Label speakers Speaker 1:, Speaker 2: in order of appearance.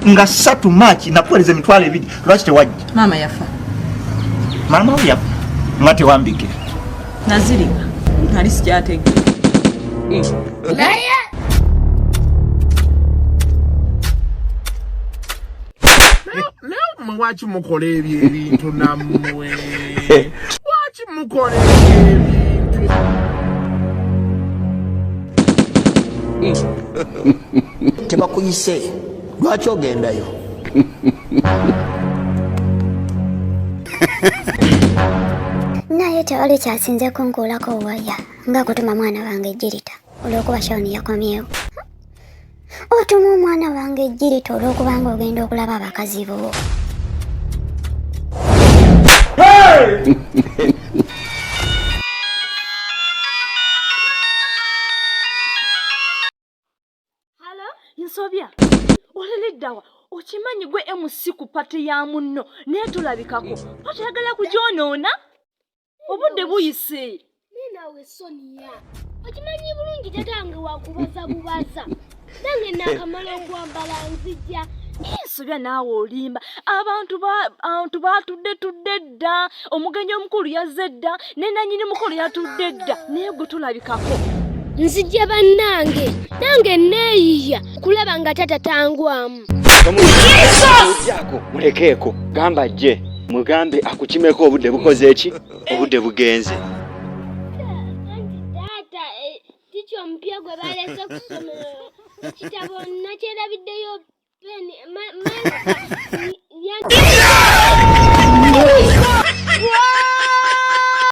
Speaker 1: nga satu maaki nakuweereza emitwalo ebiri lwaki tewajja maama yafa maama wo yafa nga tewambikira nazirika
Speaker 2: nali sikyatege
Speaker 3: naye mwe waki mukola ebyo ebintu nammwe waki mukola ebyo ebintu
Speaker 4: tebakuyise lwaki ogendayo
Speaker 5: naye tewali kyasinze kunkuulako waya nga kutuma mwana wange ejirita olwokuba shawuni yakomyewo otuma omwana wange ejjirita olw'okubanga ogenda okulaba abakazi bo
Speaker 6: nsobya olineddawa okimanyi gwe emusi ku pate ya munno naye tulabikako pate yagala kugyonoona obudde buyise ninawe
Speaker 7: sonia okimanyi bulungi tatange wakubaza bubaza nange nakamala okwambala nzija nsobya
Speaker 6: naawe olimba abantu abantu batudde tudde dda omugenyi omukulu yazze dda nenanyini mukulu yatudde dda naye gwe tulabikako nzija
Speaker 7: bannange nange neeyiya kulaba nga tata tangwamu
Speaker 8: Yako mulekeeko gamba ajje mugambe akukimeko obudde bukoze eki obudde bugenze
Speaker 7: omupiya gwe balese ku ssomero ekitabo nakyerabiddeyo peni